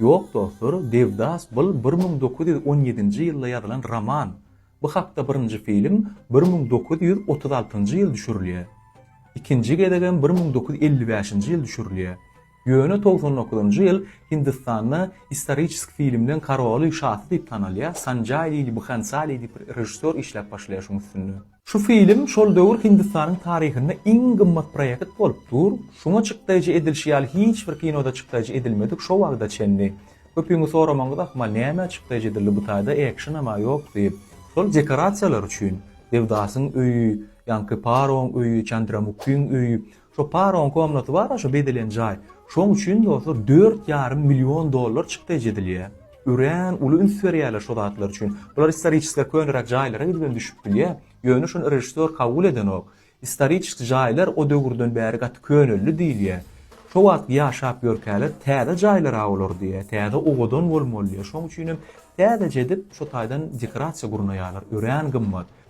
Ýok dostlar, Devdas bul bir müň dokuz ýüz on ýedinji ýylda ýazylan roman. Bu hakda birinji film bir müň dokuz ýüz otuz altynjy ýyl düşürilýä. Ikinji gezegem bir müň dokuz ýüz elli bäşinji ýyl düşürilýä. Ýöne togsan dokuzynjy ýyl Hindistanda istoriçesk filmden Karoly şasy diýip tanalýa Sanjay Lili Bhansali diýip režissýor işläp başlaýa şuň üstünde. Şu film şol döwür Hindistanyň taryhynda iň gymmat proýekt bolup dur, şuňa çykdaýjy edilşi ýaly hiç bir kinoda çykdaýjy edilmedik şo wagda çenli. Köpüňiz soramaňyz ahmal nämä çykdaýjy edildi bu taýda ekşnama ýok diýip. Şol dekorasiýalar üçin Devdasyň öýi, ýaňky Paroň öýi, Çandramukhiň öýi, Şo Paroň komnaty bar-a şo bezelen jaý. Şoň üçin dostlar dört ýarym million dollar çykdaýjy edilýär. Örän uly üns berýärler şo zatlar üçin. Bular istoriçeski köneräk jaýlara gidibem düşüp bilýär. Ýöne şony režissýor kabul edenok. Istoriçeski jaýlar o döwürden bäri gaty köneldi diýilýär. Şo wagtky ýaşap ýörkäler täze jaýlar-a olar diýýär. Täze owadan bolmaly diýýär. Şoň üçinem täzeje edip şo taýdan dekorasiýa gurnaýarlar. Örän gymmat.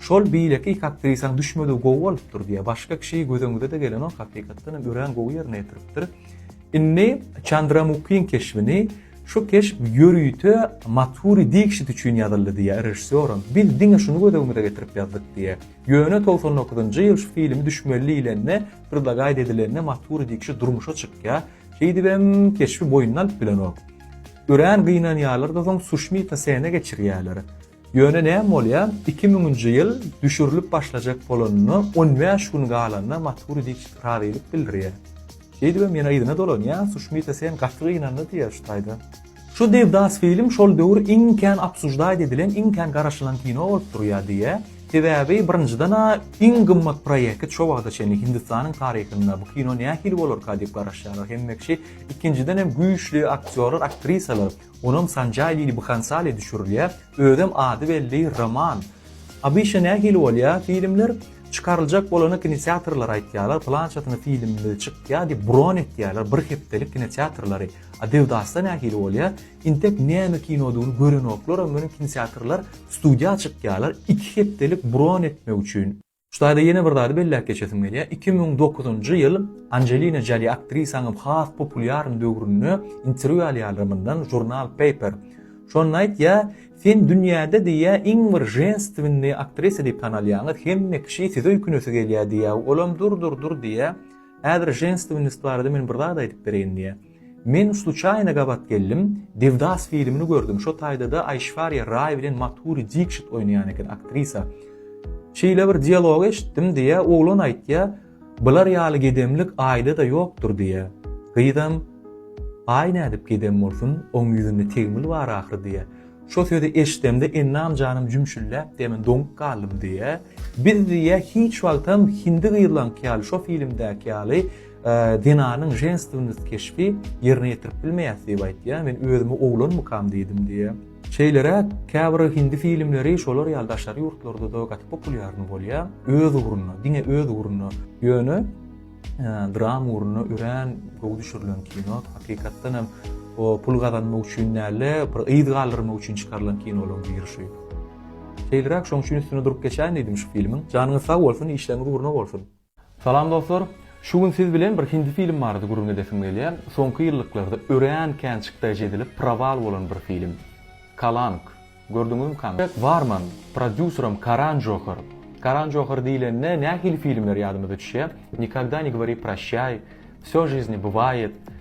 Şol beýlekik aktrisaň düşmedigi gowy bolupdyr diýýär. Başga kişi göz öňüňde-de gelenok, hakykatdan hem örän gowy ýerine ýetiripdir. Indi Çandramukiň keşbini Şu keşp ýörite Mathuri Dikşit üçin ýazyldy diýýär režissýoram. Biz diňe şuny göz öňümize getirip ýazdyk diýýär. Ýöne togsan dokuzynjy ýyl şu filmi düşmeli diýlende, predlagaýt edilende Mathuri Dikşit durmuşa çykýar. Şeýdibem keşbi boýnuna alyp bilenok. Örän gynanýarlar-da soň Sushmita Sene geçirýärler. Ýöne näme bolýar, iki müňünji ýyl düşürilip başlajak bolanyna on bäş gün galanda Maturi Diçit razylyk bildirýär. Şeýdibem ýene yzyna dolanýar, Suşmita sen gaty gynandy diýýär şu taýda. Şu Devdas film şol döwür iň kän obsuždaýt edilen, iň kän garaşylan kino bolup durýar diýýär. Sebäbi birinjiden-ä iň gymmat proýeki şo wagta çenli Hindistanyň taryhynda bu kino nähili bolarka diýip garaşýarlar hemme kişi, ikinjidenem güýçli aktýorlar, aktrisalar, Onam Sanjay Lili Bhansali düşürilýär, özem ady belli Roman. Abyşa nähili bolýar filmler? Çykaryljak bolana kinoteatrlar aýtýarlar, pylançasyna filmimiz çykýar diýip bron etýärler, bir hepdelik kinoteatrlary. A Dewdasda nähili bolýar? Intek näme kinodygyny görenoklar, ondan öň kinoteatrlar studiýa çykýarlar, iki hepdelik bron etmek üçin. Şu taýda ýene bir zady belläp geçesim gelýär. Iki müň dokuzynjy ýyl Anjelina Joli aktrisanyň has populýaryn döwründe interwýu alýarlar mundan žurnal Paper. Şonda aýtýa, Sen dünýäde diýýä iň bir ženstwennýi aktrisa diýip tanalýaňyz, hemme kişi sizi öýkünesi gelýä diýýä, olam dur-dur-dur diýýä. Häzir ženstwennost barada men bir zat aýdyp bereýin diýýä. Men sluçaýna gabat geldim, Devdas filmini gördüm, şo taýdada Aýşwarýa Raý bilen Mathuri Dikşit oýnaýan eken, aktrisa. Şeýle bir dialog eşitdim, diýýär, oglan aýtýar, Bular ýaly gedemlik aýda-da ýokdur, diýýär. Gyzam, Aý nädip gedem bolsun, oň ýüzünde tegmil bar ahyry, diýýär. Şo sözi eşidemde Ennam janym jümşülläp, diýýär, men doňup galdym, diýýär. Biz, diýýär, hiç wagtam hindi gyzlaňky ýaly, şo filmdäki ýaly, Zenanyň ženstwnost keşbi ýerine ýetirip bilmeýäs diýip aýtýar. Men özümi oglanmykam diýdim diýýär. Şeýleräk, käbir hindi filmleri şolar ýaly daşary ýurtlarda-da gaty populýarny bolýar. Öz ugruna, diňe öz ugruna. Ýöne drama ugruna örän gowy düşürilen kino. Hakykatdan hem o pul gazanmak üçin däl-de, bir yz galdyrmak üçin çykarylan kinolaryň biri şu. Şeýleräk şoň üçin üstünde durup geçäýin diýdim şu filmiň. Janyňyz sag bolsun, işleriňiz ugruna bolsun. Salam dostlar! Şu gün siz bilen bir hindi film barada gürrüň edesim gelýär. Soňky ýyllyklarda örän kän çykdaýjy edilip prawal bolan bir film. Kalank. Gördüňizmi kany? Barman, prodýuseram Karan Johar. Karan Johar diýlende nähili filmler ýadymyza düşýär? Nikogda ne govori proşýaý, Vsё žizni bywaýet,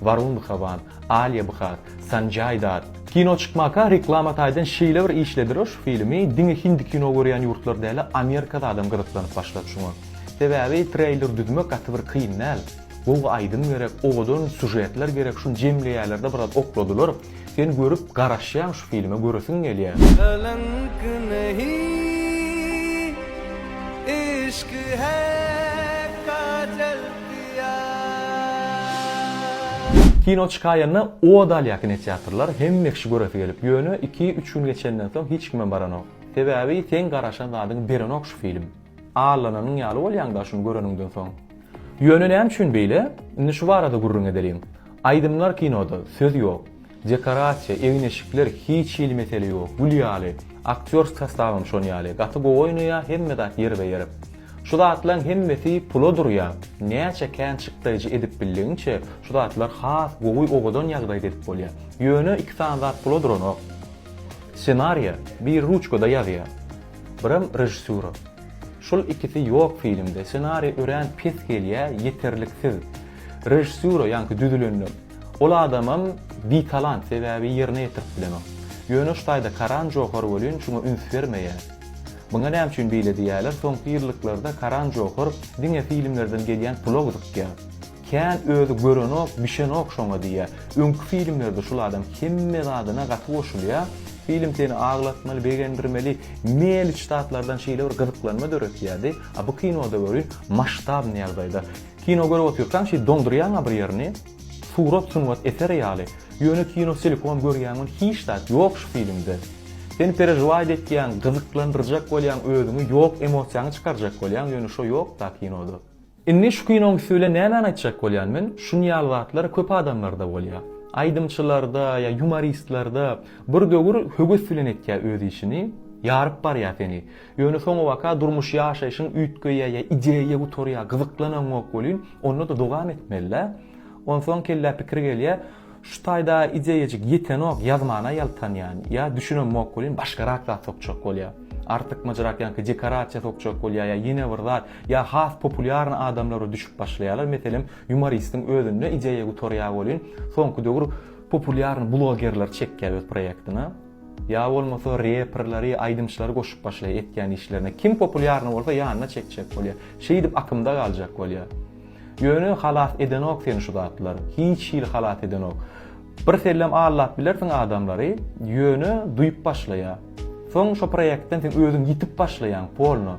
Warun Bhavan, Alia Bhar, Sanjay Datt. Kino çykmaka reklama taýdan şeýle bir işlediler şu filimi diňe hindi kino görýän ýurtlar däl-ä Amerikada adam gyzyklanyp başlady şuňa. Sebäbi treýler düzmek gaty bir kyn däl. Gowy aýdym gerek, owadan sujetler gerek şuny jemleýärlerde biraz okladylar. Sen görüp garaşýaň şu filme göresiň gelýä. Kalank nehi ishq hai kajal piyar. Kino çykaýanda od alýa kinoteatrlar hemme kişi göresi gelip ýöne iki üç gün geçenden soň hiç kimem baranok sebabi seň garaşan zadyňy berenok şu film. Allananyň ýaly bolýaň-da şuny göreniňden soň. Ýöne näme üçin beýle? Indi şu barada gürrüň edeliň. Aýdymlar kinoda, söz ýok. Dekorasiýa, egin-eşikler hiç hili mesele ýok, gül ýaly. Aktýor sostawam şon ýaly, gaty gowy oýnaýar, hemme zat ýerbe-ýer. Şu zatlaň hemmesi pula durýar. Näçe kän çykdaýjy edip bildigiňçe, şu zatlar has gowy owadan ýagdaýda edip bolýar. Ýöne iki sany zat pula duranok. Ssenariýa, biri ruçkada ýazýar. Birem režissura. Şul ikisi ýok filmde. Ssenariý örän pes gelýä, ýeterliksiz. Režissura ýaňky düzülende. Ol adamam bitalant sebäbi ýerine ýetirip bilenok. Ýöne şu taýda Karan Johar welin şuňa üns bermeýä. Muňa näme üçin beýle diýýäler, soňky ýyllyklarda Karan Johar diňe filmlerden gelýän pula gyzykýa. Kän özi görenok bişenok şoňa diýýä. Öňki filmlerde şul adam hemme zadyna gaty goşulýa. Film seni aglatmaly begendirmeli meliç zatlardan şeýle bir gyzyklanma döretýädi. A bu kinoda görýin maştabny ýagdaýda. Kino görüp otyrkaň şeý doňdurýaňa bir ýerini. Surat sungat eseri ýaly. Ýöne kino selkom görýäň ony hiç zat ýok şu filmde. Sen perežwaýt etýäň gyzyklandyrjak bolýaň özüňi ýok emosiýaňy çykarjak bolýaň ýöne şo ýok da kinoda. Indi şu kinoň üsti bilen nämäni aýtjak bolýan men, şun ýaly zatlar köp adamlarda bolýa. Aýdymçylarda ýa ýumoristlerde bir döwür höwes bilen etýä öz işini, ýaryp barýa seni. Ýöne soňabaka durmuş ýaşaýşyň üýtgeýä ýa ideýa gutarýa, gyzyklanaňok welin onda-da dowam etmelidä. Onsoň kellä pikir gelýä, Şu taýda ideýajyk ýetenok ýazmana ýaltanýan ýa düşünemok welin başgarak zat sokjak bolýa. Artykmajyrak ýaňky dekorasiýa sokjak bolýa ýa ýene bir zat ýa has populýarny adamlara düşüp başlaýalar meselem ýumoristiň özünde ideýa gutarýa welin soňky döwür populýarny blogerleri çekýa öz proýektine ýa bolmasa reperleri aýdymçylary goşup başlaýa etýän işlerine kim populýarny bolsa ýanyna çekjek bolýa şeýdip akymda galjak bolýa. Ýöne halas edenok seni şu zatlar, hiç hili halas edenok. Birsellem aldap bilersiň adamlary, ýöne duýup başlaýa. Soň şo proýektden sen özüň ýitip başlaýaň, polno.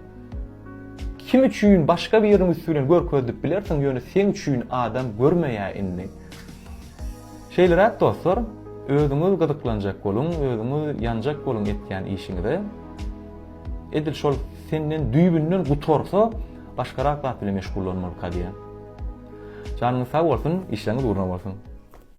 Kim üçin başga biriniň üsti bilen görkezdip bilersiň, ýöne seň üçin adam görmeýä indi. Şeýleräk dostlar, özüňiz gyzyklanjak boluň, özüňiz ýanjak boluň etýän işiňize. Edil şol senden düýbünden gutarsa, Başgarak zat bilen meşgullanmalyka diýýän. Janyňyz sag bolsun, işleriňiz ugruna bolsun.